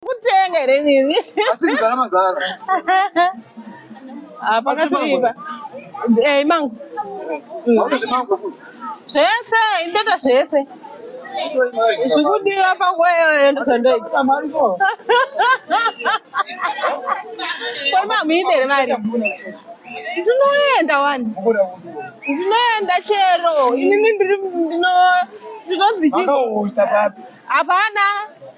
kutenga here nini asi kuzara mazara ah, pakasviba ei eh, mangu zvese indoita zvese zvikudiwa pakweyoendozondoita kwemamuidere mari ndinoenda wani ndinoenda chero inini ndinozvichii hapana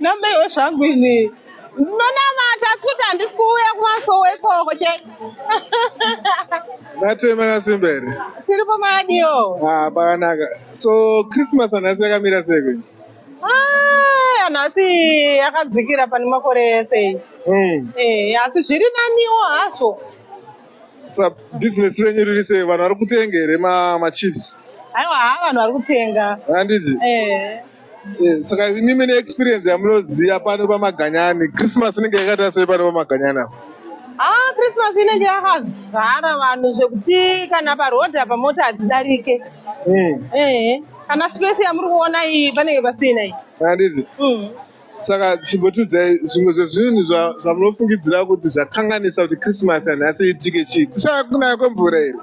nambeiwe zvangu ini ndinonamata asi kuti handisi kuuya kumasowo ikoko che matema yasimba here tiripo madiyo ah, pakanaka so christmas anhasi yakamira seke anhasi ah, yakadzikira pane makore ese hmm. eh, asi zviri naniwo hazvo Sa business renyu riri sei? Vanhu vari kutenga here ma, ma chips? Aiwa haa vanhu vari kutenga. Handiti? Eh. Eh, Saka imi mune experience yamunoziva pano pamaganyani. Christmas inenge yakaita sei pano pamaganyani apa? Ah, Christmas inenge yakazara vanhu zvekuti kana paroad apa mota hadzidarike. Mm. Eh. Kana space yamuri kuona iyi panenge pasina iyi. Handiti? Mm. Saka chimbotiudzai zvimwe zvezvinhu zvamunofungidzira kuti zvakanganisa kuti Christmas yanhasi iitike chii? Kushaya kunaya kwemvura here?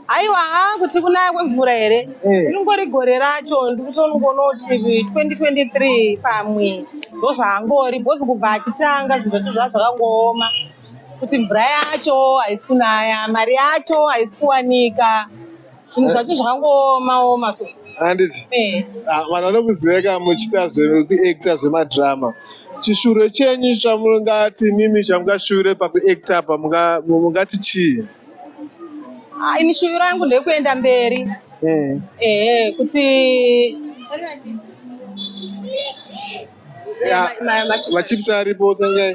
Haiwa haa kuti kunaya kwemvura here? Eh. Ringori gore racho ndikutongoona kuti 2023 pamwe ndozvaangori because kubva achitanga zvinhu zvacho zvaa zvakangooma kuti mvura yacho haisi kunaya, mari yacho haisi kuwanika. zvinhu zvacho zvakangooma oma so handiti eh. ah, vanhu vanokuziveka muchiita zvekuacta zvemadrama chishure chenyu chamungati mimi chamungashure pakuacta apa mungati chii ah, ini shuvi rangu ndekuenda mberi hmm. ehe kuti machips aripo tangai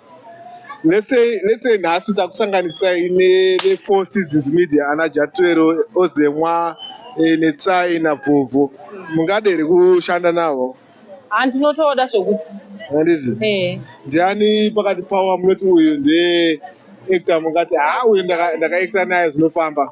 let's say let's say nhasi takusanganisai nevefour seasons media ana jatwero ozemwa eh, netsai navhovho mungade here kushanda navo handinotoda zvokuti handizi eh. ndiani pakati pavo munoti uyu ndee actor mungati haa uyu ndakaacta naye zvinofamba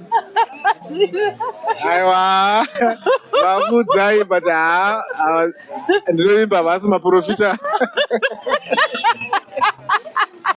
aiwa vamuudzai but haa ndinoimba havasi maprofita